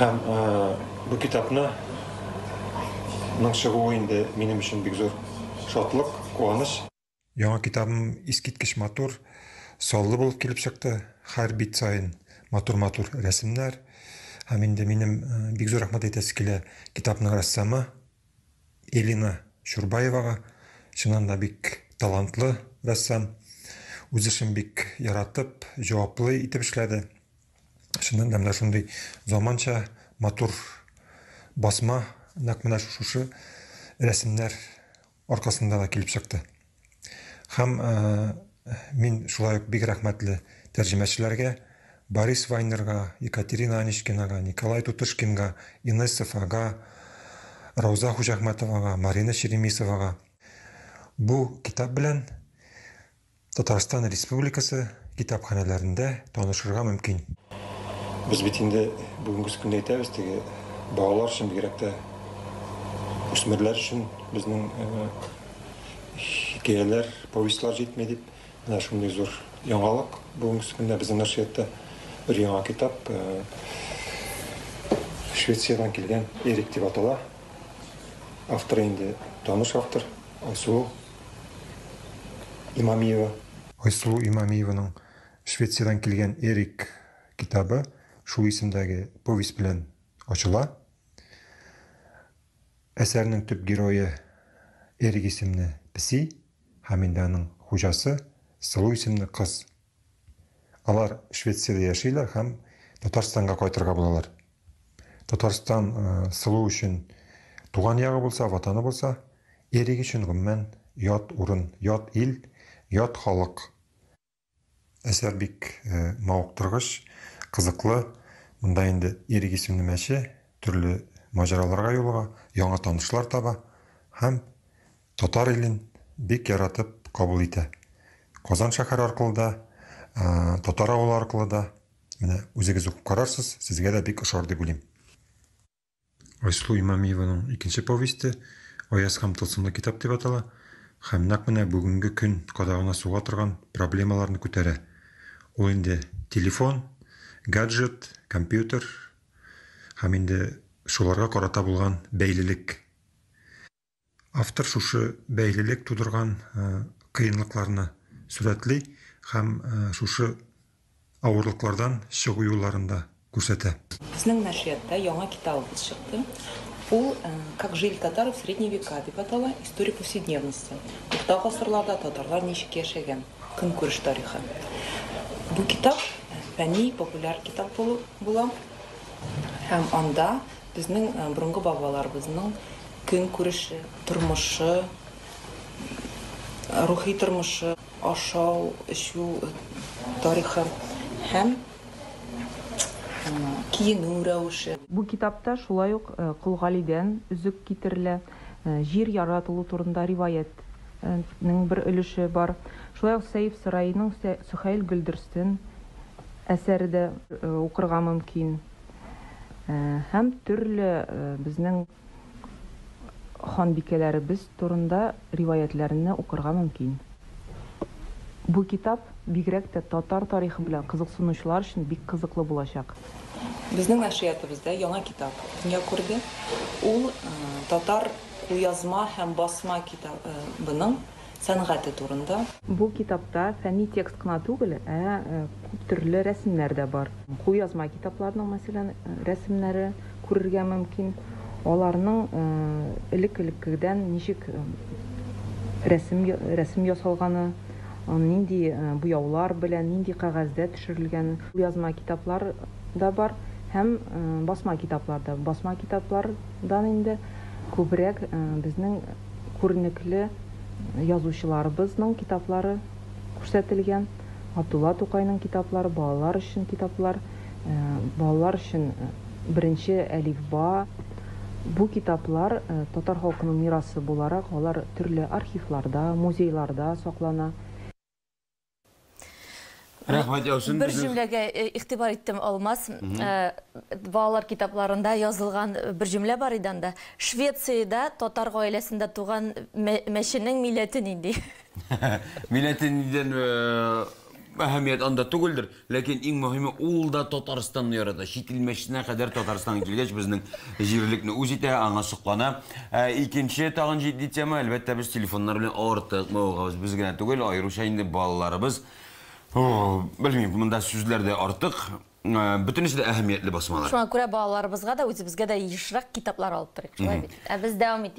Һәм бу китапны ның чыгуы инде минем өчен бик зур шатлык, куаныч. Яңа китабым искиткеч матур, саллы булып килеп чыкты. Хәр бит саен матур-матур рәсемнәр. Һәм инде минем бик зур рәхмәт әйтәсе килә китапның рәссамы. Элина Чурбаевага, чыннан да бик талантлы рәссам, үз эшен бик яратып, җаваплы итеп эшләде. Чыннан да менә шундый заманча, матур басма нәкъ менә шушы рәсемнәр аркасында да килеп чыкты. Һәм мин шулай ук бик рәхмәтле тәрҗемәчеләргә, Борис Вайнерга, Екатерина Аничкинага, Николай Тутышкинга, Инессов ага, Рауза Хуҗәхмәтовага, Марина Черемисовага. Бу китап белән Татарстан Республикасы китапханәләрендә танышырга мөмкин. Без бит инде бүгенге көндә әйтәбез, теге балалар өчен, бигрәк тә үсмерләр өчен безнең хикәяләр, повестьлар җитми дип, менә шундый зур яңалык бүгенгесе көндә безнең нәшриятта бер яңа китап Швециядән килгән Эрик дип атала. Авторы инде таныш автор Айсылу Имамиева. Айсылу Имамиеваның Швециядән килгән Эрик китабы шул исемдәге повесть белән ачыла. Әсәрнең төп герое Эрик исемле песи һәм инде аның хуҗасы Сылу исемле кыз. Алар Швециядә яшиләр һәм Татарстанга кайтырга булалар. Татарстан Сылу өчен туган ягы булса, ватаны булса, Эрик өчен, гомумән, ят урын, ят ил, ят халык. Әсәр бик мавыктыргыч, кызыклы. Монда инде Ирек исемле мәче төрле маҗараларга юлыга, яңа танышлар таба һәм татар илен бик яратып кабул итә. Казан шәһәре аркылы да, татар авылы аркылы да, менә үзегез укып карарсыз, сезгә дә бик ошар дип уйлыйм. Айсылу Имамиеваның икенче повесте Аяз һәм тылсымлы китап дип атала һәм нәкъ менә бүгенге көн кадагына суга торган проблемаларны күтәрә. Ул инде телефон, гаджет, компьютер һәм инде шуларга карата булган бәйлелек. автор шушы бәйлелек тудырган кыенлыкларны сурәтли һәм шушы авырлыклардан чыгу юлларын да күрсәтә. Безнең нәшрияттә яңа китабыбыз чыкты. Ул Как жили татары в средние века дип атала, история повседневности. Урта гасырларда татарлар ничек яшәгән, көнкүреш тарихы. Бу китап фәнни-популяр китап булып була һәм анда Безнең борынгы бабаларыбызның көнкүреше, тормышы, рухи тормышы, ашау, эчү тарихы һәм киенү рәвеше. Бу китапта шулай ук Кол Галидән өзек китерелә, җир яратылу турында риваятьнең бер өлеше бар. Шулай ук Сәйф Сораиның Сөһәйл Гөлдерстен әсәре дә укырга мөмкин. Һәм төрле безнең ханбикәләребез турында риваятьләрне укырга мөмкин. Бу китап бигрәк тә татар тарихы белән кызыксынучылар өчен бик кызыклы булачак. Безнең нәшриятыбызда яңа китап дөнья күрде. Ул татар кулъязма һәм басма китабының сәнгате турында. Бу китапта фәнни текст кына түгел, ә күп төрле рәсемнәр дә бар. Кулъязма китапларның, мәсәлән, рәсемнәре күрергә мөмкин. Аларның элек-элеккегдән ничек рәсем рәсем ясалганы, нинди буяулар белән, нинди кәгазьдә төшерелгәне. Кулъязма китаплар да бар һәм басма китаплар да. Басма китаплардан инде күбрәк безнең. күренекле язучыларыбызның китаплары күрсәтелгән. Габдулла Тукайның китаплары, балалар өчен китаплар, балалар өчен беренче әлифба. Бу китаплар татар халкының мирасы буларак, алар төрле архивларда, музейларда саклана. Рәхмәт яусын Бер җөмләгә э, игътибар иттем, Алмаз. Э, балалар китапларында язылган э, бер җөмлә бар иде анда. Швециядә татар гаиләсендә туган мәченең милләте нинди? Милләте ниндидән әһәмият анда түгелдер, ләкин иң мөһиме ул да Татарстанны ярата. Чит ил мәчетенә кадәр Татарстанга килгәч безнең җирлекне үз итә, аңа соклана. Ә икенче тагын җитди тема, әлбәттә, без телефоннар белән артык мавыгабыз. Без генә түгел, аеруча инде балаларыбыз. Белмим, монда сүзләр дә артык. Бөтенесе дә әһәмиятле басмалар. Шуңа күрә балаларыбызга да, үзебезгә дә ешрак китаплар алып торыйк, шулай бит? Ә без дәвам итик.